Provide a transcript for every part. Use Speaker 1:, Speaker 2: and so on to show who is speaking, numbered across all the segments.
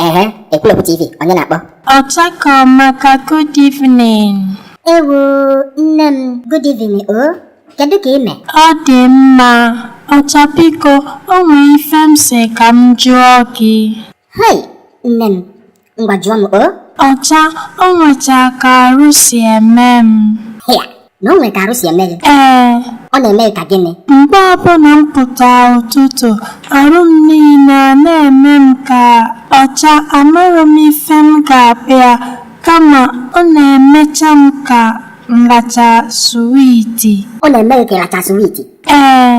Speaker 1: Ehe, Ekwulọbụ TV, onye na-akpọ? Ọcha ka
Speaker 2: ọmaka, good evening. Ewu,
Speaker 1: nne m, good evening o. Kedu ka i mee? Ọ dị mma.
Speaker 2: Ọcha biko, o nwee ife m sị ka m jụọ gị.
Speaker 1: Hei, nne m, ngwa jụọ m o. Ọcha, o
Speaker 2: nwecha ka arụ si eme m. Hịa, na o
Speaker 1: nwere ka arụ si eme gị ee ọ na-eme gị ka gịnị mgbe ọbụla
Speaker 2: m pụta ụtụtụ arụ m niile ana-eme m ka ọcha amaghị m ife m ga-akpọ ya kama ọ na-emecha m ka m racha suwiti ọ na-eme gị ka ị
Speaker 1: racha swiiti ee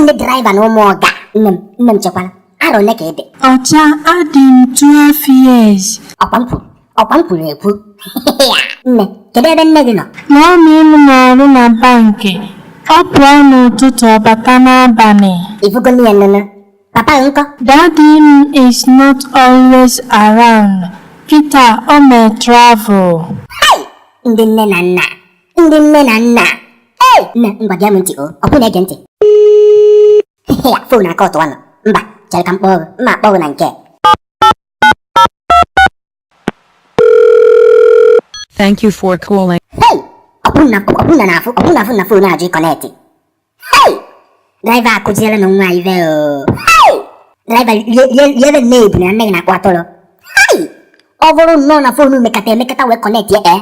Speaker 1: ndị draịva na ụmụ ọga nne m nne m chekwala arọ ole ka ị dị Ọcha
Speaker 2: adị m 12 years. ọkwa m kwuru
Speaker 1: ọkwa m kwuru ekwu nne kedu ebe nne gị nọ Mọmị m na-arụ
Speaker 2: na bankị. Ọ pụọ n'ụtụtụ ọ bata n'abalị. ị fụgo nụ ya
Speaker 1: nụnụ papa gị nkọ Daddy
Speaker 2: m is not always around. Kịta o mee travel. Hey!
Speaker 1: ndị nne na nna ndị nne na nna ei nne ngwa gee m ntị o ọ bụ na-ege ntị ya fon aka ọtụwa nọ mba chere ka m kpọọ gị m ma-akpọ gị na nke
Speaker 3: Thank you for calling. hei
Speaker 1: ọbụna ọbụna na afụ ọbụna afụ na fon ajụ ịkọnetị hei draiva akụziere nụ nwa ive o hei draiva lieve nne ebuna nne gị na-akpọ atụrụ hei ọ bụrụ nnọọ na fon mekata emekata wee kọnetị ya ee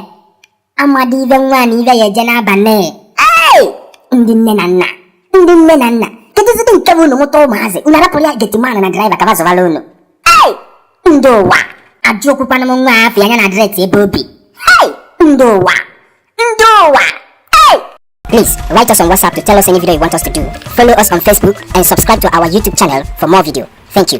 Speaker 1: amadi ive nwa na ive ya eje n'abalị ei ndị nne na nna ndị nne na nna kedụzidị nke bụ unu mụta ụmụazị unu arapụrụ ya getiman na draiva ka ba zụbara unu ei ndị ụwa ajụ okwukwana m nwa afa ya na adreesị ebe o bi ei ndị ụwa ndị ụwa ei Please write us on WhatsApp to tell us any video you want us to do. Follow us on Facebook and subscribe to our YouTube channel for more video. Thank you.